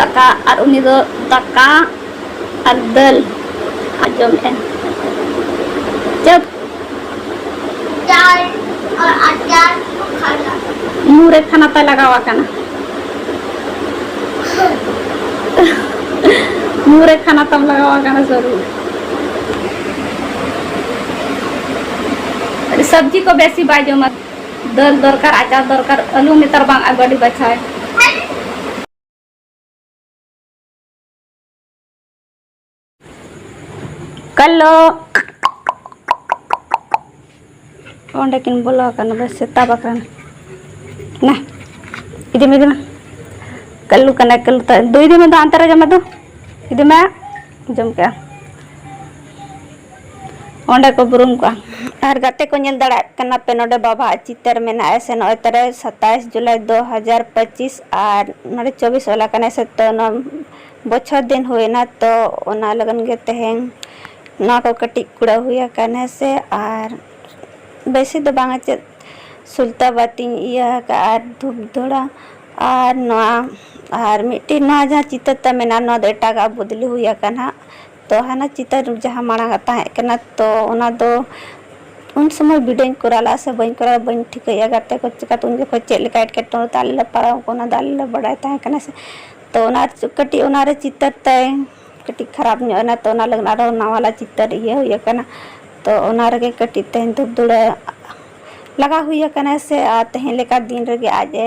ᱫᱟᱠᱟ ᱟᱨ ᱩᱱᱤ ᱫᱚ ᱫᱟᱠᱟ ᱟᱨ ᱫᱟᱹᱞ ᱟᱸᱡᱚᱢᱮᱫᱼᱟ ᱪᱟᱹᱯ ᱢᱩᱨᱮ ᱠᱷᱟᱱᱟ ᱛᱟᱭ ᱞᱟᱜᱟᱣ ᱟᱠᱟᱱᱟ ᱢᱩᱨᱮ ᱠᱷᱟᱱᱟ ᱛᱟᱢ ᱞᱟᱜᱟᱣ ᱟᱠᱟᱱᱟ ᱥᱚᱨᱩ ᱥᱚᱵᱽᱡᱤ ᱠᱚ ᱵᱮᱥᱤ ᱵᱟᱭ ᱡᱚᱢᱟ ᱫᱟᱹᱞ ᱫᱚᱨᱠᱟᱨ ᱟᱪᱟᱨ ᱫᱚᱨᱠᱟᱨ ᱟᱹᱞᱩ ᱱᱮᱛᱟᱨ ᱵᱟᱝ ᱟᱹᱜᱩ ᱟᱹᱰᱤ ᱵᱟᱪᱷᱟᱣ ᱠᱟᱞᱚ ᱚᱸᱰᱮ ᱠᱤᱱ ᱵᱚᱞᱚ ᱟᱠᱟᱱᱟ ᱵᱮᱥ ᱥᱮᱛᱟ ᱵᱟᱠᱷᱨᱟ ᱱᱟ ᱤᱫᱤ ᱢᱮ ᱤᱫᱤ ᱢᱮ ᱠᱟᱹᱞᱩ ᱠᱟᱱᱟ ᱠᱟᱹᱞᱩ ᱛᱟ ᱫᱩᱭ ᱫᱤᱱ ᱫᱚ ᱟᱱᱛᱟᱨᱟ ᱡᱚᱢᱟ ᱫᱚ ᱤᱫᱤ ᱢᱮ ᱡᱚᱢ ᱠᱮᱜᱼᱟ ᱚᱸᱰᱮ ᱠᱚ ᱵᱩᱨᱩᱢ ᱠᱚᱜᱼᱟ ᱟᱨ ᱜᱟᱛᱮ ᱠᱚ ᱧᱮᱞ ᱫᱟᱲᱮᱭᱟᱜ ᱠᱟᱱᱟ ᱯᱮ ᱱᱚᱰᱮ ᱵᱟᱵᱟ ᱟᱜ ᱪᱤᱛᱟᱹᱨ ᱢᱮᱱᱟᱜᱼᱟ ᱥᱮ ᱱᱚᱜᱼᱚᱭ ᱛᱟᱨᱮ ᱥᱟᱛᱟᱥ ᱡᱩᱞᱟᱭ ᱫᱩ ᱦᱟᱡᱟᱨ ᱯᱚᱸᱪᱤᱥ ᱟᱨ ᱱᱚᱰᱮ ᱪᱚᱵᱵᱤᱥ ᱚᱞ ᱟᱠᱟᱱᱟ ᱥᱮ ᱛᱚ ᱱᱚᱣᱟ ᱵᱚᱪᱷᱚᱨ ᱫᱤᱱ ᱦᱩᱭᱱᱟ ᱛᱚ ᱚᱱᱟ ᱞᱟᱹᱜᱤᱫ ᱜᱮ ᱛᱮᱦᱮᱧ ᱱᱚᱣᱟ ᱠᱚ ᱠᱟᱹᱴᱤᱡ ᱠᱩᱲᱟᱹᱣ ᱦᱩᱭ ᱟᱠᱟᱱᱟ ᱥᱮ ᱟᱨ ᱵᱮᱥᱤ ᱫᱚ ᱵᱟᱝᱟ ᱪᱮᱫ ᱥᱩᱞᱛᱟᱹ ᱵᱟᱹᱛᱤᱧ ᱤᱭᱟᱹ ᱟᱠᱟᱫᱼᱟ ᱟᱨ ᱫᱷᱩᱯ ᱫᱷᱩᱬᱟᱹ ᱟᱨ ᱱᱚᱣᱟ ᱟᱨ ᱢᱤᱫᱴᱤᱡ ᱱᱚᱣᱟ ᱡᱟᱦᱟᱸ ᱪᱤᱛᱟᱹᱨ ᱛᱟᱢ ᱢᱮᱱᱟᱜᱼᱟ ᱱᱚᱣᱟ ᱫᱚ ᱮᱴᱟᱜᱟᱜ ᱵᱚᱫᱽᱞᱤ ᱦᱩᱭ ᱟᱠᱟᱱᱟ ᱛᱚ ᱦᱟᱱᱟ ᱪᱤᱛᱟᱹᱨ ᱡᱟᱦᱟᱸ ᱢᱟᱲᱟᱝ ᱟᱜ ᱛᱟᱦᱮᱸ ᱠᱟᱱᱟ ᱛᱚ ᱚᱱᱟ ᱫᱚ ᱩᱱ ᱥᱚᱢᱚᱭ ᱵᱤᱰᱟᱹᱣᱤᱧ ᱠᱚᱨᱟᱣ ᱞᱟᱜᱼᱟ ᱥᱮ ᱵᱟᱹᱧ ᱠᱚᱨᱟᱣ ᱵᱟᱹᱧ ᱴᱷᱤᱠᱟᱹᱭᱟ ᱜᱟᱛᱮ ᱠᱚ ᱪᱤᱠᱟᱹᱛᱮ ᱩᱱ ᱡᱚᱠᱷᱚᱱ ᱪᱮᱫ ᱞᱮᱠᱟ ᱮᱴᱠᱮᱴᱚᱬᱮ ᱛᱮ ᱟᱞᱮ ᱞᱮ ᱯᱟᱨᱟᱣ ᱚᱱᱟ ᱫᱚ ᱟᱞᱮ ᱞᱮ ᱵᱟᱰᱟᱭ ᱛᱟᱦᱮᱸ ᱠᱟᱱᱟ ᱥᱮ ᱛᱚ ᱚᱱᱟ ᱠᱟᱹᱴᱤᱡ ᱚᱱᱟ ᱨᱮ ᱪᱤᱛᱟᱹᱨ ᱛᱟᱭ ᱠᱟᱹᱴᱤᱡ ᱠᱷᱟᱨᱟᱯ ᱧᱚᱜ ᱮᱱᱟ ᱛᱚ ᱚᱱᱟ ᱞᱟᱹᱜᱤᱫ ᱟᱨᱚ ᱱᱟᱣᱟᱞᱟ ᱪᱤᱛᱟᱹᱨ ᱤᱭᱟᱹ ᱦᱩᱭ ᱟᱠᱟᱱᱟ ᱛᱚ ᱚᱱᱟ ᱨᱮᱜᱮ ᱠᱟᱹᱴᱤᱡ ᱛᱮᱦᱮᱧ ᱫᱷᱩᱯ ᱫᱷᱩᱲᱟᱹ ᱞᱟᱜᱟᱣ ᱦᱩᱭ ᱟᱠᱟᱱᱟ ᱥᱮ ᱟᱨ ᱛᱮᱦᱮᱧ ᱞᱮᱠᱟ ᱫᱤᱱ ᱨᱮᱜᱮ ᱟᱡ ᱮ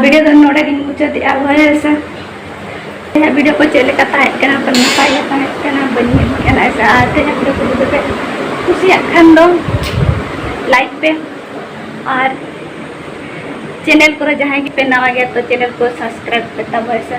ᱵᱷᱤᱰᱤᱭᱳ ᱫᱚ ᱱᱚᱰᱮ ᱜᱤᱧ ᱢᱩᱪᱟᱹᱫᱮᱜᱼᱟ ᱦᱳᱭ ᱥᱮ ᱤᱧᱟᱹᱜ ᱵᱷᱤᱰᱤᱭᱳ ᱠᱚ ᱪᱮᱫ ᱞᱮᱠᱟ ᱛᱟᱦᱮᱸ ᱠᱟᱱᱟ ᱯᱟᱞ ᱱᱟᱯᱟᱭ ᱜᱮ ᱛᱟᱦᱮᱸ ᱠᱟᱱᱟ ᱵᱟᱹᱧ ᱧᱮᱞ ᱠᱟᱱᱟ ᱥᱮ ᱟᱨ ᱛᱮᱦᱮᱧᱟᱜ ᱵᱷᱤᱰᱤᱭᱳ ᱠᱚ ᱡᱩᱫᱤ ᱯᱮ ᱠᱩᱥᱤᱭᱟᱜ ᱠᱷᱟᱱ ᱫᱚ ᱞᱟᱭᱤᱠ ᱯᱮ ᱟᱨ ᱪᱮᱱᱮᱞ ᱠᱚᱨᱮ ᱡᱟᱦᱟᱸᱭ ᱜᱮᱯᱮ ᱱᱟᱣᱟ ᱜᱮᱭᱟ ᱛᱚ ᱪᱮᱱᱮᱞ ᱠᱚ ᱥᱟᱵᱥᱠᱨᱟᱭᱤᱵ ᱯᱮ ᱛᱟᱵᱚᱱ ᱥᱮ